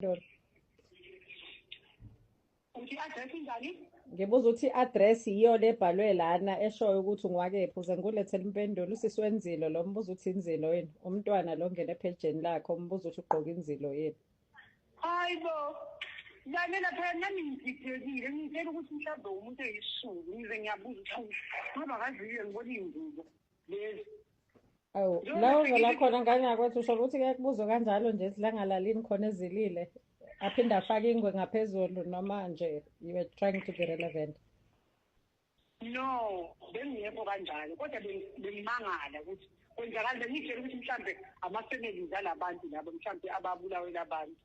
Lord. Uthi address injani? Ngibuza ukuthi i-address yiyo le ebhalwe lana eshoyo ukuthi ungwakephi uze ngulethele impendulo usisi wenzilo lo mbuza ukuthi inzilo yini umntwana lo ngene ephejeni lakhe umbuza ukuthi ugqoke inzilo yini hayi bo lalela phela nami ngididekile ngitshela ukuthi mhlawumbe umuntu eyisulu ngize ngiyabuza ukuthi ngoba kaziyo ngibona iy'ngubo yes awu la uvela khona ngane yakwethu usho ukuthi ke kubuzo kanjalo nje silangalalini khona ezilile aphinde afake ingwe ngaphezulu noma nje you were trying to be relevant no bengingekho kanjalo kodwa bengimangala ukuthi kwenzakala bengitshela ukuthi mhlawumbe ama-families alabantu labo mhlawumbe ababulawela abantu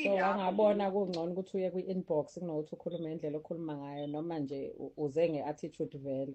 so wangabona kungcono ukuthi uye kwi-inbox kunokuthi ukhulume indlela okhuluma ngayo noma nje uze nge-attitude vele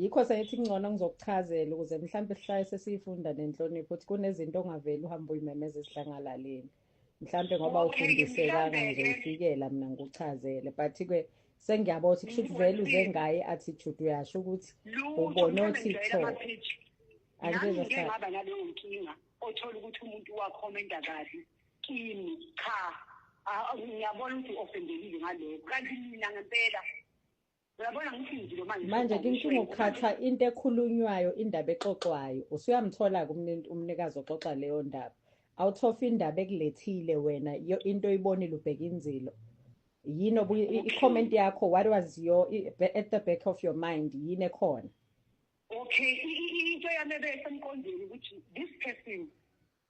yikho sengithi kungcono ngizokuchazela ukuze mhlawumbe sihlale sesiyifunda nenhlonipho ukuthi kunezinto ongaveli uhambe uyimemeza esidlangalaleni mhlawumbe ngoba ufundisekanga ngizoyifikela mina ngikuchazele but-ke sengiyabo ukuthi kusho ukuthi vele uze ngaye i-attitude uyasho ukuthi ubone othi tho angizengaba naleyo nkinga othola ukuthi umuntu wakhomenta kahle kimi cha ngiyabona ukuthi ofendekile ngalokho kanti mina ngempela Uyabona ngithi ngizilo manje. Manje kinkinga ukhathwa into ekhulunywayo indaba exoxwayo. Usuyamthola kumnintu umnikazi oxoxa leyo ndaba. Awuthofa indaba ekulethile wena into oyibonile ubheka inzilo. Yini obu i-comment yakho what was your at the back of your mind yini ekhona? Okay into yami ebesemqondweni ukuthi this person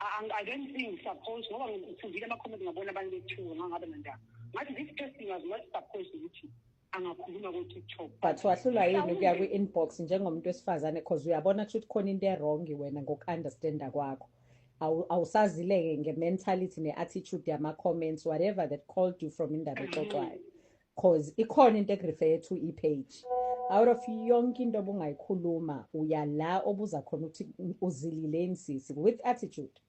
I don't think suppose ngoba ngifundile ama comment ngabona abantu bethiwa ngangabe nandaba ngathi this person was not supposed ukuthi angakhuluma ko-tiktok but wahlula yini ukuya kwi-inbox njengomuntu wesifazane because uyabona kusho ukuthi khona into erongi wena ngoku-understanda kwakho awusazileke nge-mentality ne-attitude yama-comments whatever that called you from indaba exoxwayo cause ikhona into ekurefer to ipage out of yonke into obungayikhuluma uya la obuza khona ukuthi uzilile insisi with attitude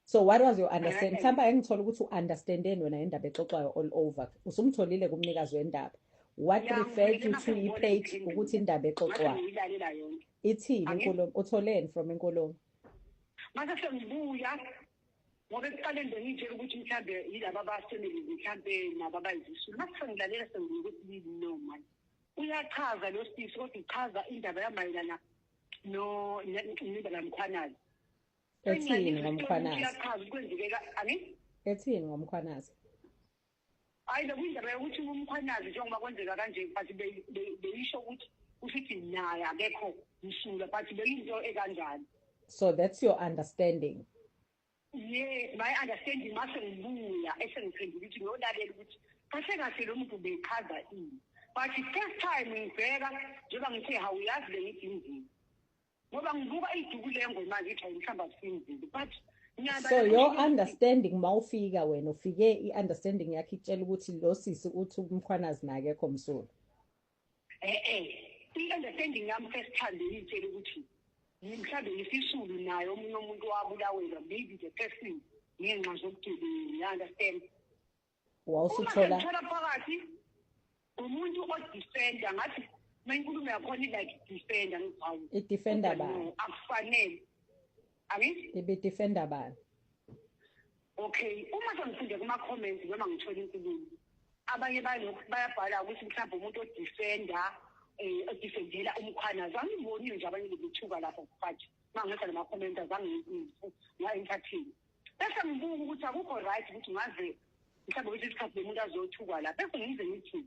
so what was your understand mhlawumbe engithola ukuthi u-understandeni wena indaba exoxwayo all over usumtholile kumnikazi wendaba what referred you to ipage ukuthi indaba exoxwayo ithini inkulumo utholeni from inkulumo mase sengibuya ngoba ekuqaleni bengiyitshela ukuthi mhlawumbe yilaba bafamily mhlawumbe nabo abayizisulu uma sengilalela sengibuye kwesibili no mani uyachaza lo sisi kodwa uchaza indaba yamayelana nendaba yamkhwanazi ethini ngomkhwanazi uyachaza kwenzekeka ani ethini ngomkhwanazi Hayi bekuyindaba yokuthi umkhwanazi njengoba kwenzeka kanje but beyisho ukuthi usithi naye akekho msula but beyinto ekanjani so that's your understanding yes my understanding mase ngibuya esengiphendula ukuthi ngiyolalela ukuthi kahle kahle lo muntu beyichaza ini but first time ngibheka njengoba ngithe hawuyazi bengidingile ngoba ngivuka iduku lengo manje ithi ayihlamba kusinzile but so your understanding uma ufika wena ufike i-understanding yakho itshela ukuthi lo sisi uthi umkhwanazi nakekho msulu e-e i-understanding yami first time beyitshela ukuthi mhlawumbe yisisulu naye omunye umuntu wabulawelwa maybe the person ngenxa zobugebengu you understand wawusuthola thola phakathi umuntu o defender ngathi mayinkulumo yakhona ilike defender ngizawu i defender ba akufanele angithi ibe defender ba okay uma sengifunde kuma comments noma ngithola inkulumo abanye bayabhala ukuthi mhlawumbe umuntu o defender eh odifendela umkhwana zangiboni nje abanye bebithuka lapho mfathi mangisa lama comments azangiyifu ngayi entertain bese ngibuka ukuthi akukho right ukuthi ngaze mhlawumbe ukuthi isikhathi bemuntu azothukwa la bese ngize ngithi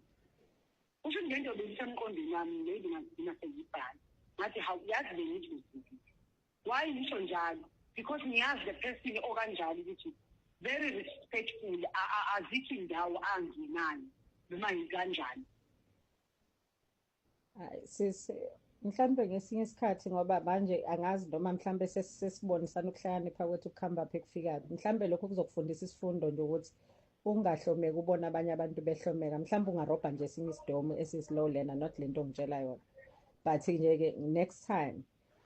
kusho ukuthi lento beyisemqondweni wami lezi ngazigcina sengibhala ngathi hawu yazi bengithi uzibile why ngisho njalo because ngiyazi the person okanjalo ukuthi very respectful azikho indawo angenayo noma yikanjani Hayi sisi mhlambe ngesinye isikhathi ngoba manje angazi noma mhlambe sesibonisana ukuhlakanipha kwethu kuhamba phi kufika mhlambe lokho kuzokufundisa isifundo nje ukuthi ungahlomeki ubona abanye abantu behlomeka mhlawumbe ungarobha nje esinye isidomu esisilow lena not le nto ongitshela yona but nje-ke next time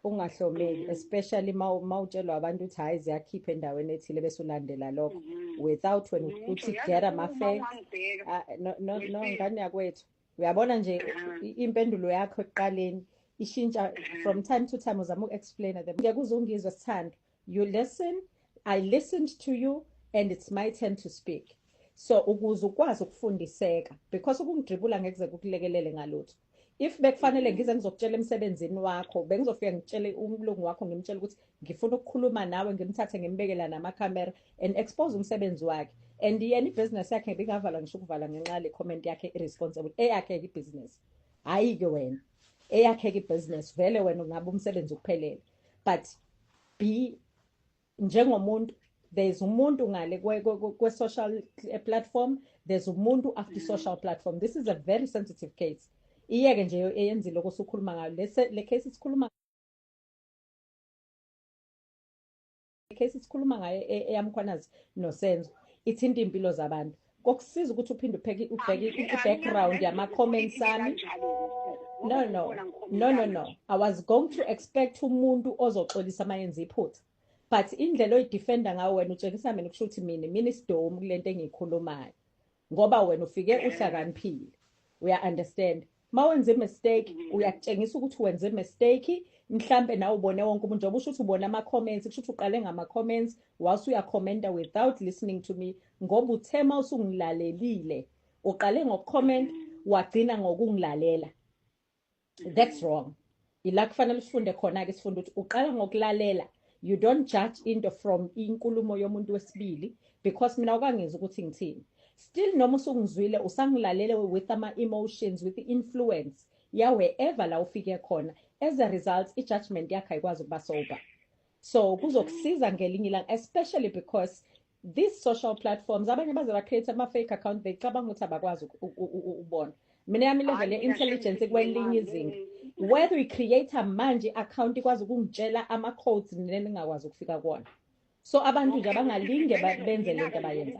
ungahlomeki mm. especially uma utshelwa abantu ukuthi hhayi ziyakhipha endaweni ethile bese ulandela lokho mm-hmm. without wena mm-hmm. ukuthi get amafek ah, no ngane yakwethu uyabona nje impendulo yakho ekuqaleni ishintsha from time to time uzama uku-explaina them ngeke uze ungizwe sithando you listen i listened to you and it's my turn to speak so ukuze ukwazi ukufundiseka because ukungidribula ngekuze kukulekelele ngalutho if bekufanele ngize ngizokutshela emsebenzini wakho bengizofika ngitshele umlungu wakho ngimtshele ukuthi ngifuna ukukhuluma nawe ngimthathe ngimbeke la nama camera and expose umsebenzi wakhe and yena ibusiness yakhe ngingavala ngisho ukuvala ngenxa le comment yakhe irresponsible eyakhe ibusiness hayi ke wena eyakhe ibusiness vele wena ungabe umsebenzi ukuphelele but be njengomuntu there's umuntu ngale kwe social eh, platform there's umuntu after mm-hmm. social platform this is a very sensitive case iyeke nje eyenzile okusukhuluma ngayo le case sikhuluma case sikhuluma ngayo e, eyamkhwanazi nosenzo ithinta impilo zabantu kokusiza ukuthi uphinde ubheke ubheke i-background yama-comments ami no no no no no i was going to expect umuntu ozoxolisa uma yenza iphutha but indlela oyidefenda ngayo wena utshengisa mina kusho ukuthi mina mina isidomu kule nto engiyikhulumayo ngoba wena ufike uhlakaniphile uya understand mawenze mistake uyakutshengisa ukuthi wenze mistake mhlambe nawe ubone wonke umuntu njengoba usho ukuthi ubona ama comments kusho ukuthi uqale ngama comments wase uya commenta without listening to me ngoba uthema usungilalelile uqale ngokucomment wagcina ngokungilalela that's wrong ila kufanele usifunde khona ke sifunde ukuthi uqala ngokulalela you don't judge into from inkulumo yomuntu wesibili because mina ukangizi ukuthi ngithini still noma usungizwile usangilalele with ama emotions with the influence ya wherever la ufike khona as a result i judgment yakhe ayikwazi ukuba sober so kuzokusiza ngelinye ilanga especially because These social platforms abanye baze ba create ama fake account becabanga ukuthi abakwazi ukubona. Mina yami level ye intelligence kwelinye izinga. Whether we create manje account ikwazi ukungitshela ama codes nengakwazi ukufika kuona. so abantu nje abangalinge benze lento abayenza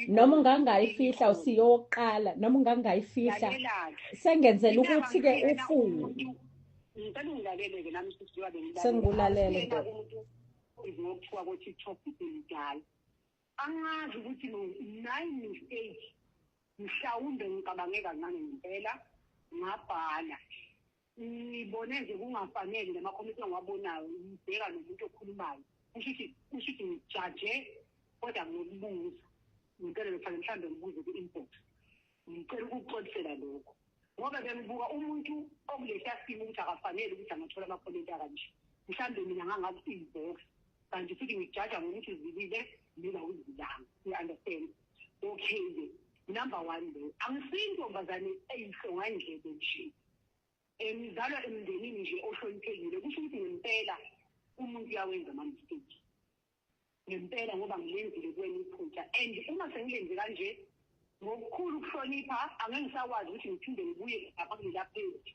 noma ungangayifihla usiyoqala noma ungangayifihla sengenzela ukuthi-ke ufunde sengikulalele nto Njengoba kuthiwa ko-TikTok iselidala. Angazi ukuthi nine mistake mhlawumbe ngicabange kancane ngempela ngabhala ngibone nje kungafanele namakhomenti engiwabonayo ngibheka nomuntu okhulumayo kusho ukuthi kusho ukuthi ngijaje kodwa nginokubuza ngempela lokufanele mhlawumbe ngibuze kwi-inbox Ngicela ukukuxolisela lokho ngoba bengibuka umuntu okulehla simo ukuthi akafanele ukuthi angathola amakhomenti akanje. Mhlawumbe mina ngangaku-inbox kanti futhi ngikujaja ngokuthi uzilile mina awuzilanga. You understand? Okay-ke number one leyo angisiyi intombazane eyihlongandlebe nje um ngizalwa emndenini nje ohloniphekile kusho ukuthi ngempela umuntu uyawenza ama-mistake ngempela ngoba ngilenzile kuwena iphutha and uma sengilenze kanje ngokukhulu ukuhlonipha angeke ngisakwazi ukuthi ngiphinde ngibuye lapha kulela page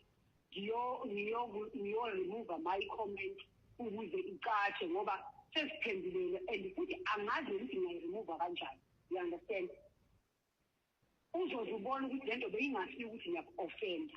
ngiyo-remova my comment ukuze icatshe ngoba sesiphendulele and futhi angazi nokuthi ngingayiremova kanjani you understand uzoze ubone ukuthi le nto beyingasiyo ukuthi ngiyaku-ofenda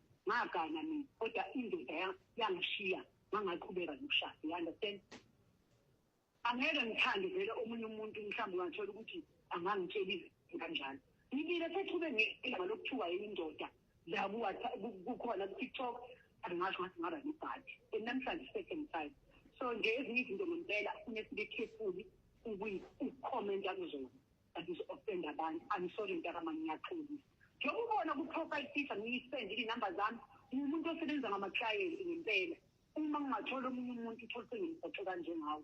ngagana mina kodwa indoda ya- yangishiya ngangaqhubeka nokushada you understand angeke ngithande vele omunye umuntu mhlawumbe ungathola ukuthi angangitshelile kanjalo ngibile sethube ngelanga lokuthiwa indoda la kuwatha- ku- kukhona kutiktok angingasho ngathi ngaba nebhadi and namhlanje second time so nje ezinye izinto ngempela funeka sibe careful ukuyi- ukukhomenta kuzona But ngizo offend abantu. I'm sorry mntakama ngiyaxolisa. Njengoba ubona ku profile picture ngiyisend i number zami ngumuntu osebenza ngama client ngempela. Uma ngingathola omunye umuntu uthole sengimgoqe kanjengawe.